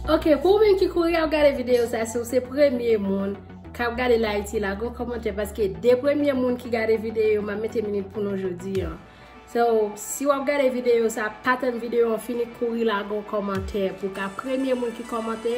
Ok pou ou menm ki kouri ap gade video sa si ou se premye moun kap gade la iti la go komante paske de premye moun ki gade video ma mete minit pou nou jodi an. So si ou ap gade video sa pa tann video an fini kouri la go komante pou ka premye moun ki komante.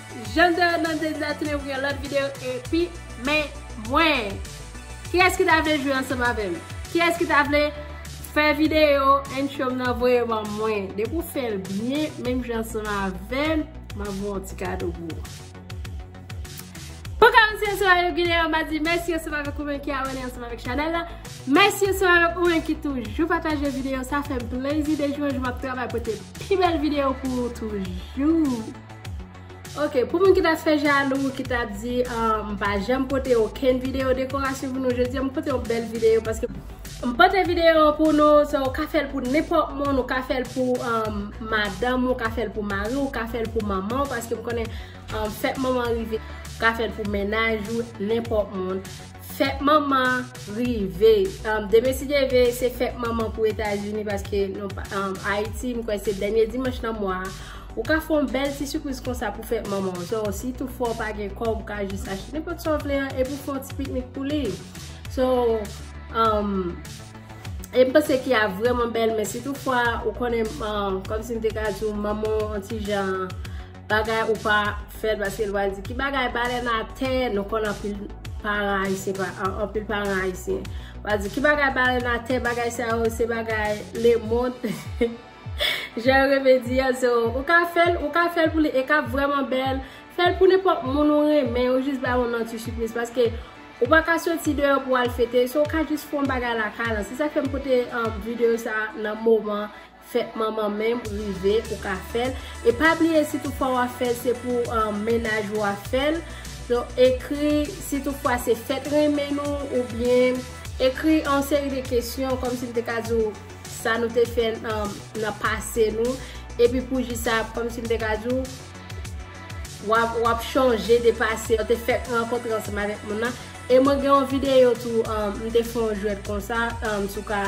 Jeune de Hernandez la tounen pou yon lòt video epi men mwen. Kiyès ki ta vle jwe ansanm avèm? Kiyès ki ta vle fè video intro m nan voye ban mwen? Depi w fè l byen menm jan ansanm avèm m ap voye yon ti kado pou ou. Pou kòmanse ansanm avèk video an m ap di mèsi ansanm avèk ou menm ki abòne ansanm avèk chanèl la. Mèsi ansanm avèk ou menm ki toujou pataje video sa fè m plezi de jou an jou m ap travay pote pi bèl video pou ou toujou. Ok pou moun ki ta fè jalou ki ta di m pa janm pote okenn video dekorasyon pou nou jodi a m pote yon bèl video paske m pote video pou nou se ou ka fèl pou nenpòt moun ou ka fèl pou madanm ou ka fèl pou mari ou ka fèl pou manman paske m konnen fèt manman rive ou ka fèl pou menaj ou nenpòt moun. Fèt manman rive. Demen si Dye ve se fèt manman pou etazini paske ayiti m kwè se dènye dimanch nan mwa a. Ou ka fè yon bèl ti sipriz konsa pou fèt manman w. So si tou fwa ou pa gen kòb ou ka jis achte nenpòt sa w vle an epi w fè yon ti piknik pou li. So e m panse ki a vrèman bèl men si tou fwa ou konnen kòmsi m te ka di w manman w yon ti jan Bagay ou pa fèl paske li pral di ki bagay balèn atè nou konn anpil paran ayisyen pa anpil paran ayisyen pral di ki bagay balèn atè bagay sa yo se bagay lemond jan yo renmen di an so ou ka fèl ou ka fèl pou li e kap vrèman bèl fèl pou nenpòt moun ou renmen ou jis ba moun nan ti sipriz paske ou pa ka soti deyò pou al fete so ou ka jis fon bagay lakay lan se sa k fè m pote videyo sa nan moman Fèt manman menm rive ou ka fèl e pa bliye si tout fwa wap fèl se pou mennaj ou wap fèl ekri si tout fwa se fèt renmen nou ou byen ekri yon seri de kesyon kòm si m te ka di w sa nou te fè nan pase nou epi pou jou sa kòm si m te ka di w wap chonje de pase ou te fèk rankontre ansanm avèk moun nan e mwen gen yon videyo tou m te fè yon jwèt konsa si w ka.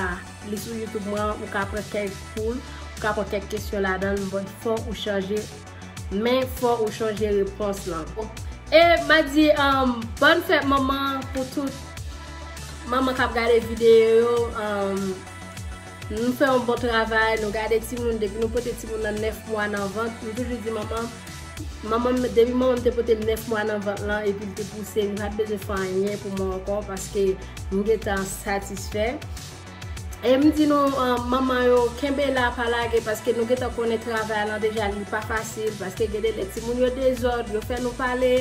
Li sou youtube mwen ou ka pran kèk koul ou ka pran kèk kesyon ladanl but fò ou chanje men fò ou chanje repons lan. E map di bòn fèt manman pou tout manman kap gade videyo yo nou fè yon bon travay nou gade timoun depi nou pote timoun nan 9 mwa nan vant nou toujou di manman Manman m, depi manman m te pote m 9 mwa nan vant lan epi l te pouse m, m pa t bezwen fè anyen pou mwen ankò paske m gen tan satisfè. E m di nou manman yo, kenbe la pa lage paske nou gen tan konnen travay lan deja li pa fasil paske gen de lè timoun yo dezòd, yo fè nou pale.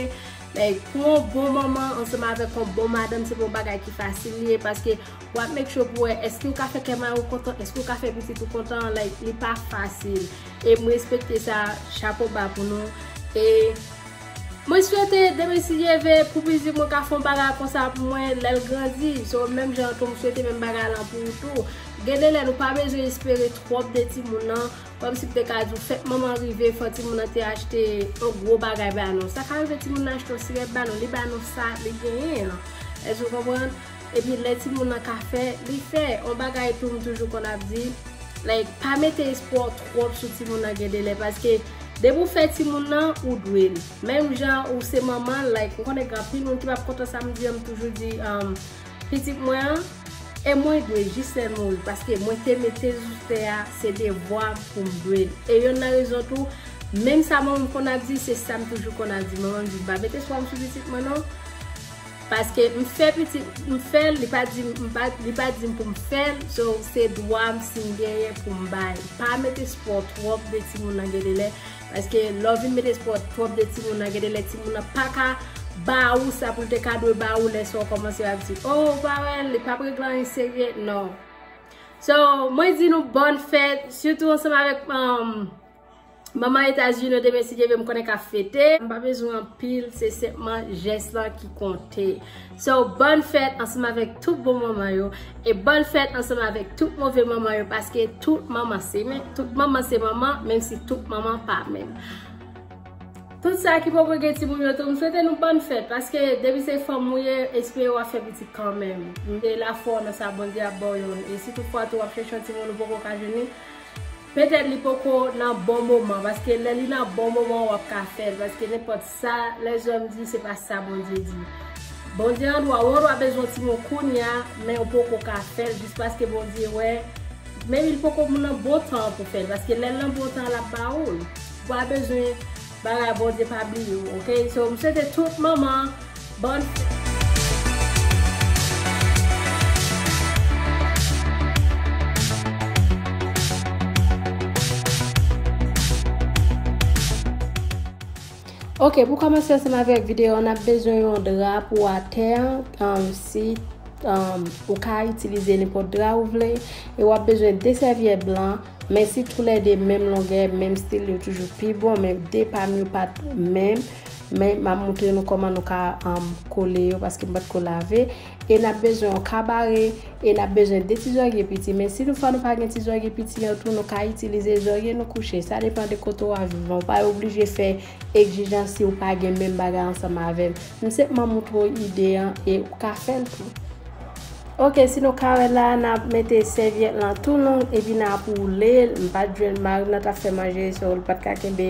Like, pou yon bon manman ansanm avèk yon bon madanm se pa yon bagay ki fasil li ye paske w ap make sure pou wè èske ou ka fè kè mari w kontan, èske ou ka fè pitit ou kontan, like li pa fasil. E m respekte sa, chapo ba pou nou. E mwen swete demen si Dye ve pou mizik mwen ka fè yon bagay konsa pou mwen lè l grandi. So menm jan an tou m swete menm bagay lan pou ou tou. Gen de lè nou pa bezwen espere twòp de timoun nan. Kòm si m te ka di w fèt manman rive fò timoun nan te achte yon gwo bagay ba nou. Sa ka rive timoun nan achte yon sirèt ba nou, li ba nou sa li genyen an. Èske ou konprann? Epi lè timoun lan ka fè, li fè. On bagay tou m toujou konn ap di, like pa mete espwa w twòp sou timoun lan gen delè paske depi w fè timoun lan, ou dwe l. Menm jan ou se manman l, like m konnen gen anpil moun ki pap kontan sa m di an, m toujou di pitit mwen an, e mwen dwe jis lè l mouri paske mwen te mete sou tè a, se devwa m pou m dwe l. E yonn nan rezon tou, menm sa manman m konn ap di, se sa m toujou konn ap di. Manman m di m pa mete espwa m sou pitit mwen non. Paske m fè pitit m fèl li pa dim m pa li pa dim poum fèl so se dwam sim genyen poum bay pa met espò twòp de timoun nan gendelè paske lèw vin met espò twòp de timoun nan gendelè timoun nan paka ba ou sa poul te ka dwe ba ou lè sa ou kòmanse ap di oh ou pa wèl li pap regle anyen serye non so mwen di nou bòn fèt sitou ansanm avèk Manman Etas Unis te mesi ke ve m konnen ka fete. M pa bezwen anpil, se senpman jès lan ki konte. So, bòn fèt ansanm avèk tout bon manman yo, e bòn fèt ansanm avèk tout move manman yo paske tout manman se menm, tout manman se manman, menm si tout manman pa menm. Tout sa ki poko gen timoun yo tou, m swete nou bòn fèt paske depi se fanm ou ye, espere w ap fè pitit kanmenm. Mete lafwa w nan sa Bondye ap ba w yo. E si tout fwa tou w ap chèche yon timoun ou poko ka jwenn li, Petèt li poko nan bon moman paske lè li nan bon moman wap ka fèl paske nenpòt sa lèzòm di se pa sa Bondye di Bondye andwa ou andwa bezwen ti moun kounya men ou poko ka fèl jis paske Bondye wè menm il poko nan bon tan an pou fèl paske lèl nan bon tan an lap ba oul ou pa bezwen Bagay bondye pa bliye w ok so m swete tout manman bonne fête. Ok pou komanse ansanm avek video an nap bezwen yon dra pou atè an si ou ka itilize nenpot dra ou vle e wap bezwen 2 sèvyèt blan. Men si tou lè 2 menm longè, menm stil yo toujou pi bon men 2 pam yo pat menm men map moutre nou kòman nou ka kole yo paske m patko lave e nap bezwen yon kabare e nap bezwen 2 ti zòrye piti men si nou fwa nou pa gen ti zòrye piti an tou nou ka itilize zòrye nou kouche sa depan de kote wap viv lan ou pa oblije fè Egzijans siw pa gen menm bagay ansanm avèm. M se pman moutre w ide an e ou ka fèl tou. Ok si nou ka wè la nap mete sèvyèt lan tou long epi nap woulel m pat jwenn marim nan tap fè manje so l pat ka kenbe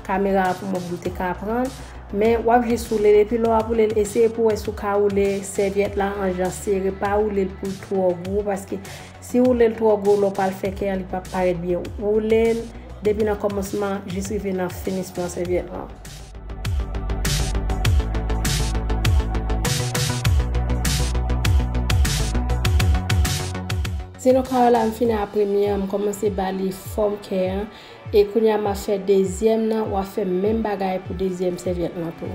kamera a pou mwen poum te ka aprann men wap jis woulel epi lè wap woulel eseye pou wè si w ka woule sèvyèt la an jan sere pa woulel poul twò gwo paske Si woulel twò gwo lè w pral fè kè an li pap parèt byen woulel depi nan kòmansman jis rive nan finisman sèvyèt lan. Si nou ka wè la m fini a premye an m kòmanse ba li fòm kè an e kounye a map fè dezyèm nan wap fè menm bagay pou dezyèm sèvyèt lan tou.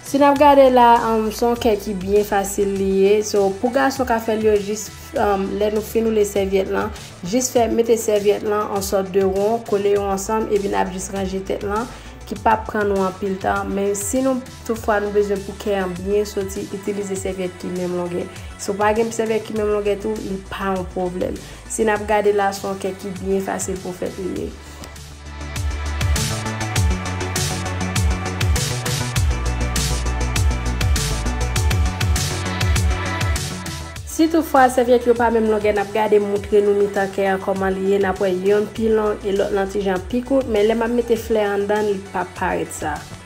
Si nap gade la son kè ki byen fasil li ye so pou gason ka fèl yo jis lè nou fin oule sèvyèt lan jis fè mete sèvyèt lan an sòt de ron kole yo ansanm epi nap jis ranje tèt lan ki pap pran nou anpil tan men si nou Toutfwa, nou bezwen pou kè an byen soti, itilize sèvyèt ki menm longè. Si w pa gen sèvyèt ki menm longè tou, li pa yon pwoblèm. Si n ap gade la, se yon kè ki byen fasil pou fèt li ye. Si toutfwa, sèvyèt yo pa menm longè, n ap gade moutre nou mitan kè an kòman li ye, n ap wè yonn pi long e lòt lan ti jan pi kout, men lè m ap mete flè anndan, li p ap parèt sa.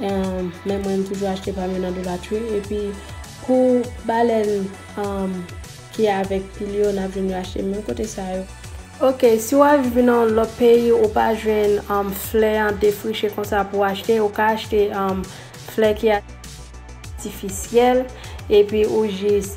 Men mwen m toujou achte pam yo nan Dollar Tree epi pou balèn ki avèk pil yo nap jwenn yo achte menm kote sa yo. Ok si wap viv nan yon lòt peyi ou pa jwenn flè an defriche konsa pou achte ou ka achte flè ki atifisyèl epi ou jis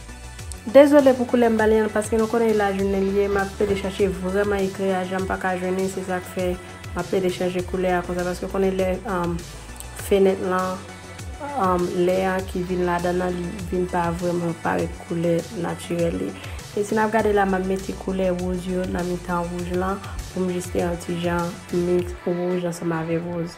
Dezole pou koulè m ba li an paske nou konnen li la jounen li ye map pede chache vreman ekri a janm paka jwenn li se sak fè map pede chanje koulè a konsa paske konnen lè fenèt lan lè an ki vin ladan nan li vin pa vreman parèt koulè natirèl li e si nap gade la map mete koulè woz yo nan mitan wouj lan poum jis fè yon ti jan miks wouj ansanm avèk woz.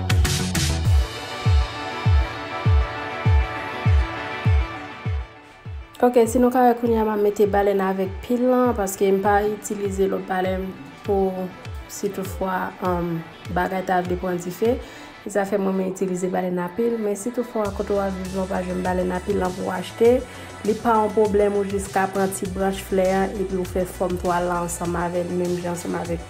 Ok si nou ka wè kounye a m ap mete balèn avèk pil lan paske m pa itilize lòt balèn pou si tout fwa bagay ta vle pran dife e sa fè mwen m itilize balèn a pil men si tout fwa kote w ap viv lan w pa jwenn balèn a pil lan pou w achte li pa yon pwoblèm ou jis ka pran ti branch flè an epi w fè fòm twal la ansanm avè l menm jan ansanm avèk.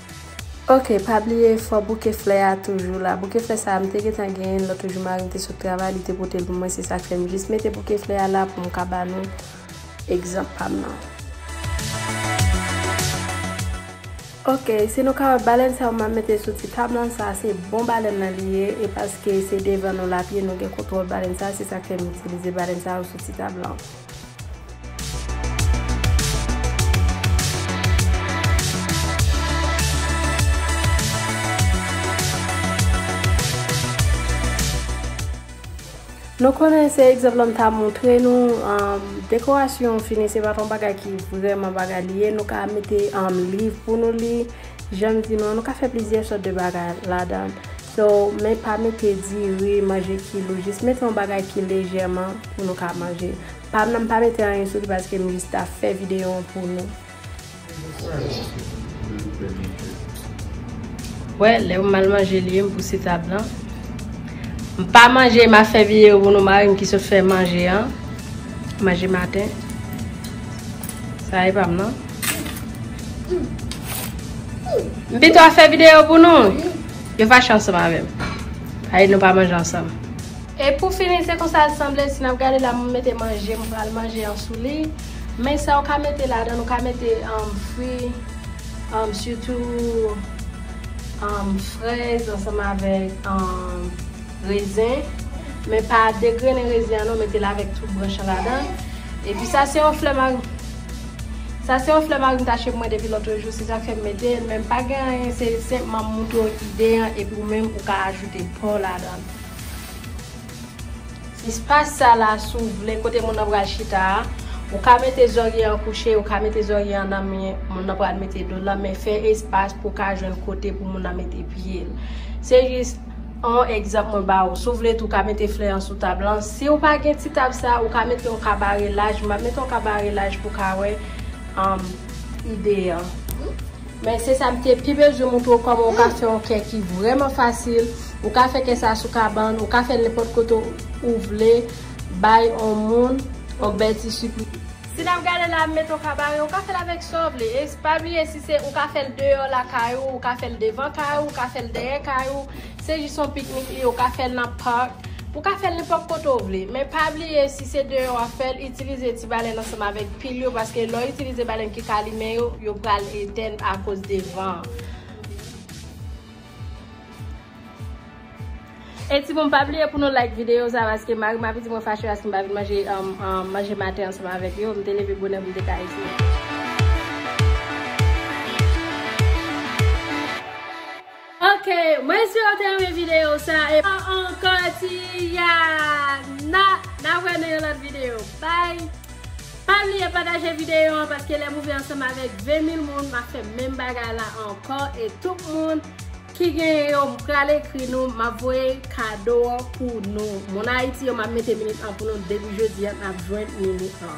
Ok pa bliye fò bouke flè a toujou la bouke flè sa a m te gentan genyen l lòt jou mari m te sot travay li te pote l pou mwen se sa k fè m jis mete bouke flè a la pou m ka ba nou egzanp pa m nan. Ok si nou ka wè balèn sa yo m ap mete sou ti tab lan sa a se bon balèn lan li ye e paske se devan nou l ap ye nou gen kontwòl balèn sa a se sa k fè m itilize balèn sa yo sou ti tab lan. Nou konnen se egzanp la m ta montre nou, dekorasyon fini se pa ton bagay ki vreman bagay li ye, nou ka mete liv pou nou li, jan m di nou an, nou ka fè plizyè sòt de bagay ladan. So, men pa mete diri, manje kilou, jis mete yon bagay ki lejèman pou nou ka manje. Pa nan pa mete anyen sou li paske m jis ta fè videyo an pou nou. Wè, lè m mal manje li ye m pouse tab lan. M pa manje ma fè videyo pou nou mari m ki sot fè manje an. Manje maten. Sa e pa m nan. M pito ap fè videyo pou nou. Yo fache ansanm avè m. Sa vle di nou pa manje ansanm. E pou fini se konsa l sanble si n ap gade la m mete manje m pral manje an sou li. Men sa ou ka mete ladan l ou ka mete fri sitou frèz ansanm avèk rezen. Men pa degrennen rezen an non mete l avèk tout branch an ladan l. Epi sa se yon flè. Sa se yon flè marim ta chep mwen depi lotre jou se sak fèm metel men pa gen anyen se senpman m moutre w ide an epi ou menm ou ka ajoute pa w ladan. Espas sa la si w vle kote moun nan pral chita a ou ka mete zòrye an kouche ou ka mete zòrye an nan men moun nan pral mete do l lan men fè espas pou w ka jwenn kote pou moun nan mete pye l se jis On egzanp mwen ba ou, si w vle tou ka mete flè an sou tab lan, si w pa gen ti tab sa, ou ka mete on kabare laj, m ap mete on kabare laj pou ka wè ide an. Men se sa m te pi bezwen montre w kòman ou ka fè on kè ki vrèman fasil, ou ka fè kè sa sou kabann, ou ka fè l nenpòt kote ou vle, bay on moun, on bèl ti sipriz. Si nap gade la m met yon ka bare ou ka fèl avèk sa w vle e pa bliye si se ou ka fèl deyò lakay ou ou ka fèl devan kay ou ou ka fèl dèyè kay ou se jis yon piknik li ye ou ka fèl nan park ou ka fèl nenpòt kote w vle men pa bliye si se deyò wap fèl itilize ti balèn ansanm avèk pil yo paske lè w itilize balèn ki ka limen yo yo pral etèn akoz de van an. E ti moun pa bliye pou nou like video sa paske mari m ape di mwen fache paske m pa vin manje manje maten ansanm avèk yo. M te leve bonè pou m te ka eseye. Ok, mwen espere ou te renmen video sa e pa ankò ti ya na na wè nan yon lòt video. Bye! Pa bliye pataje video an paske lè m ouvè ansanm avèk 20 mil moun m ap fè menm bagay la ankò e tout moun Ki genyen yo m pral ekri nou map voye kado an pou nou moun ayiti yo map mete minit an pou nou depi jodi an nap jwenn minit an.